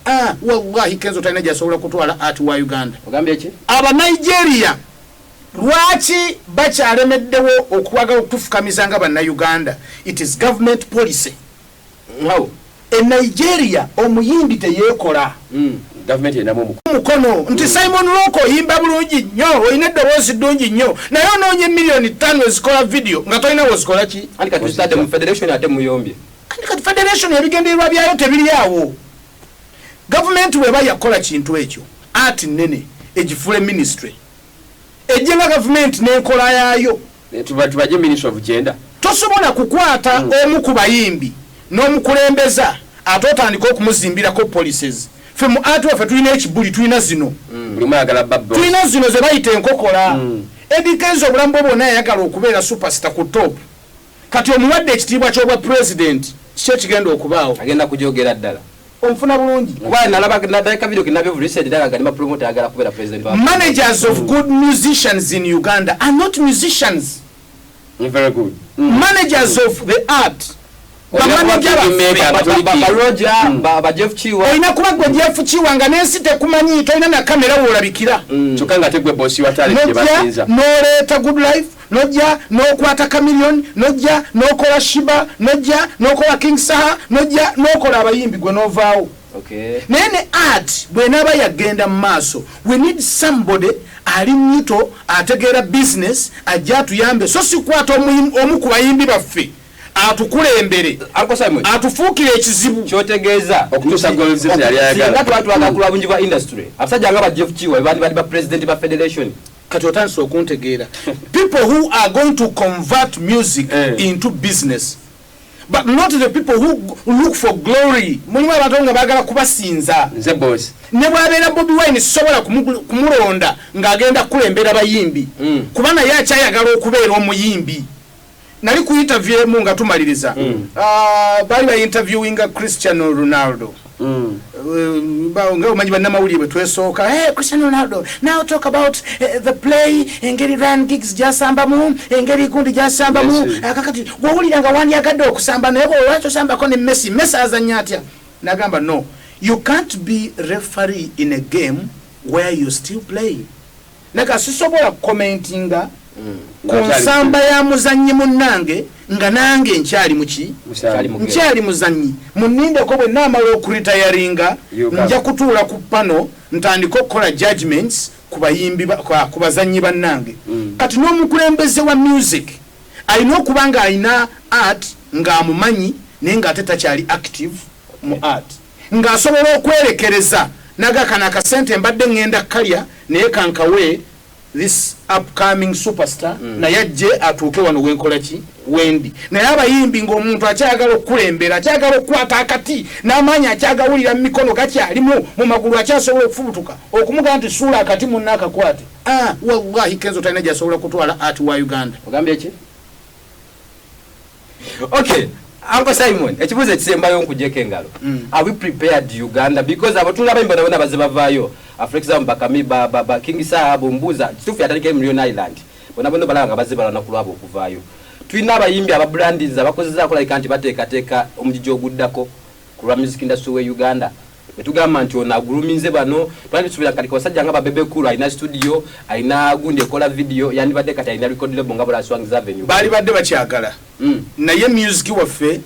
Ah, wallahi kenzo talina gyasobola kutwala art wa uganda aba nigeria lwaki bakyalemeddewo okwagala okutufukamiza nga bannauganda it is government policy wow. e nigeria omuyindi teyekola mm. mukono nti mm. simon lok oyimba bulungi nnyo olina eddoboozi ddungi nnyo naye onoonya emiliyoni ttaano ezikola vidiyo nga tolina wozikola ki anti kati federation ebigendererwa byayo tebiri awo gavumenti bweba yakukola kintu ekyo ati nene egifuule ministry ejje nga gavumenti n'enkola yaayo tubaje ministry of gender tosobola kukwata hmm. omu ku bayimbi n'omukulembeza ate otandika okumuzimbirako policies fe mu ati waffe tulina ekibuli tulina zino hmm. tulina zino ze bayita enkokola hmm. edikenza obulamu bwe bwona yayagala okubeera supersita ku top Kati omuwadde ekitiibwa ky'obwa president kiki ekigenda okubaawo? Agenda kujogera ddala. Onfuna bulungi? Kuba nalaba naddala ka video kinabe of recent daga kali ma promoter agala kubera president wa managers of good musicians in Uganda are not musicians. You're very good. Mm. Managers of the art olina kuba gwe jeff kiwa nga nensi tekumanyi tolina nakamera wolabikira mm. noleeta good life nojja nokwata camilion nojja nokola shiba nojja nokola king saha nojja nokola abayimbi gwe novaawo naye ne art bwenaaba yagenda mu maaso we need somebody ali muto ategeera business ajja atuyambe so sikwata omu ku bayimbi baffe atukulembere atufuukire ekizibu kyotegeeza okutuusasinga twatwala kulwa bungi bwa industry abasajja nga bajeff kiwa bandi bali ba president ba federation kati otandise okuntegeera people who are going to convert music eh. into business but not the people who look for glory mulimu abantu nga bagala kubasinza nze boss ne bwabeera bobi wine sisobola kumulonda ng'agenda kukulembera bayimbi mm. kuba naye akyayagala okubeera omuyimbi nali ku interview emu nga tumaliriza mm. ah, baali ba interviewinga cristiano ronaldo mm. eh, nga omanyi bannamawulire bwe twesooka eh, cristiano ronaldo now talk about eh, the play engeri ryan gigs gyasambamu engeri gundi gyasambamu ah, kakati wowulira nga wandyagadde okusamba naye bwolwaki osambako ne messi messi azanya atya nagamba no you can't be referee in a game where you still playing Leka sisobola kukomentinga ku nsamba ya muzannyi munnange nga nange nkyali muki nkyali muzannyi munindeko bwe naamala okuritayaringa nja kutuula ku pano ntandike okukola judgments ku bayimbi ku bazannyi bannange mm. kati n'omukulembeze wa music alina okuba ng'alina art ng'amumanyi naye ng'ate takyali active mu art Nga asobola okwerekereza naga kano akasente mbadde ngenda kalya naye kankawe this upcoming superstar mm. naye ajje atuuke wano wenkola ki wendi naye abayimbi ngaomuntu akyagala okukulembera akyagala okukwata akati n'amaanyi akyagawulira mu mikono gakyalimu mu magulu akyasobola okufubutuka okumugaa nti suula akati munna akakwate ah, wallahi kenzo talina gyasobola kutwala ati wa uganda ogambye ki okay Uncle Simon ekibuuzo ekisembayo nkujeko engalo mm. are we prepared Uganda because abo tulaba imbona bona baze bavayo ah, for example bakami ba, ba, ba King Sahabu mbuza kitufu yatandika Million Island bona bona balaba nga baze balana kulwabo okuvayo tulina abayimbi ababrandinza bakozezaako like nti bateekateeka omujiji oguddako Ku lwa music industry we Uganda bwe tugamba nti ono aguluminze bano twandisubira kati kabasajja nga ba Bebe Cool alina studio alina gundi ekola video yandibadde kati alina record label nga Bula Swangz Avenue. Baalibadde bakyagala mm. naye music waffe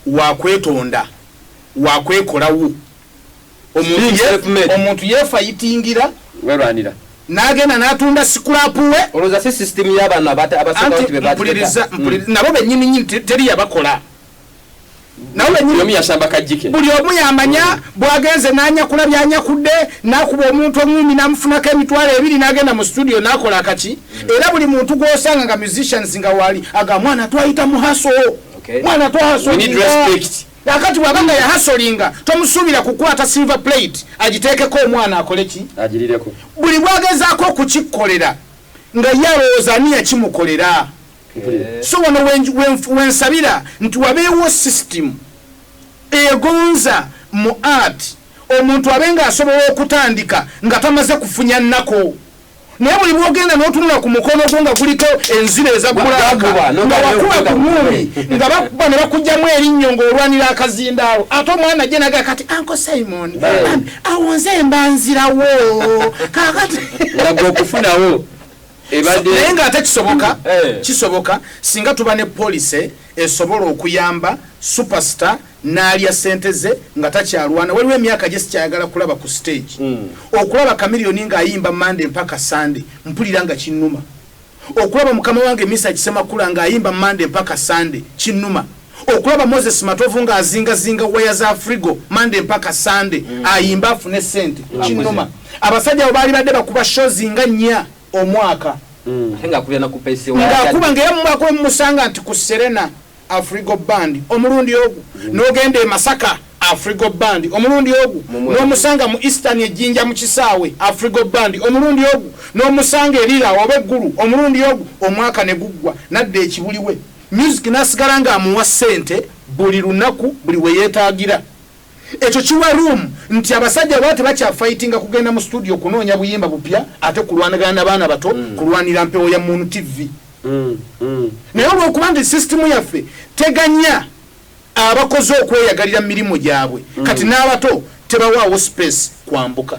wakwetonda wakwekolawo omuntu yefayitingira werwanira nagenda natunda sikulapu we olowooza si system y'abantu abasooka nti bebapuliriza mm. nabo bennyini nyini teri yabakola buli omu yamanya mm. bwagenze nanyakula byanyakudde nakuba omuntu omumi namufunako emitwalo ebiri nagenda mu studio nakola akaki mm. era buli muntu gwosanga nga musicians nga wali aga mwana twayita muhaso mwana twahaso akati bwaba nga yahasolinga tomusuubira kukwata silver plate agiteekeko omwana akoleki buli bwagezaako okukikkolera nga yalowooza ani yakimukolera so wano wensabira nti wabeewo system egonza mu art omuntu abe nga asobola okutandika nga tamaze kufunya nnako naye buli bwogenda notunula ku mukono gwo nga guliko enzira ezakulaka nga wakuba ku muumi nga bakuba ne bakugjamu erinnyo ngaolwanira akazindaalo ate omwana je naga kati anko simon awonze embanzirawo kakati okufunawo naye nga ate kisoboka eh. kisoboka singa tuba ne policy esobola okuyamba superstar naalya sente ze nga takyalwana waliwo emyaka gye sikyayagala kulaba ku stage hmm. okulaba kamiliyoni ng'ayimba mande mpaka sande mpulira nga kinnuma okulaba mukama wange misa kisemakula ng'ayimba mande mpaka sande kinnuma okulaba moses matovu nga azingazinga waya za frigo mande mpaka sande mm. ayimba afune sente mm. kinoma abasajja abo baali badde bakuba shozi nga nnya omwaka mm. ngaakuba ngaera mumwaka wemumusanga nti ku serena afrigo band omulundi ogu nogenda emasaka afrigo band omulundi ogu nomusanga mu eastern ejinja mu kisaawe afrigo band omulundi ogu nomusanga erira oba eggulu omulundi ogu omwaka neguggwa nadda ekibuliwe Music n'asigala ng'amuwa ssente buli lunaku buli we yeetaagira. Ekyo kiwa room nti abasajja baba tebakyafayitinga kugenda mu studio kunoonya buyimba bupya ate kulwanagana na baana bato kulwanira mpewo ya Moon TV. Naye olw'okuba nti sisitimu yaffe teganya abakozi okweyagalira mu mirimu gyabwe, kati n'abato tebawaawo sipeesi kwambuka.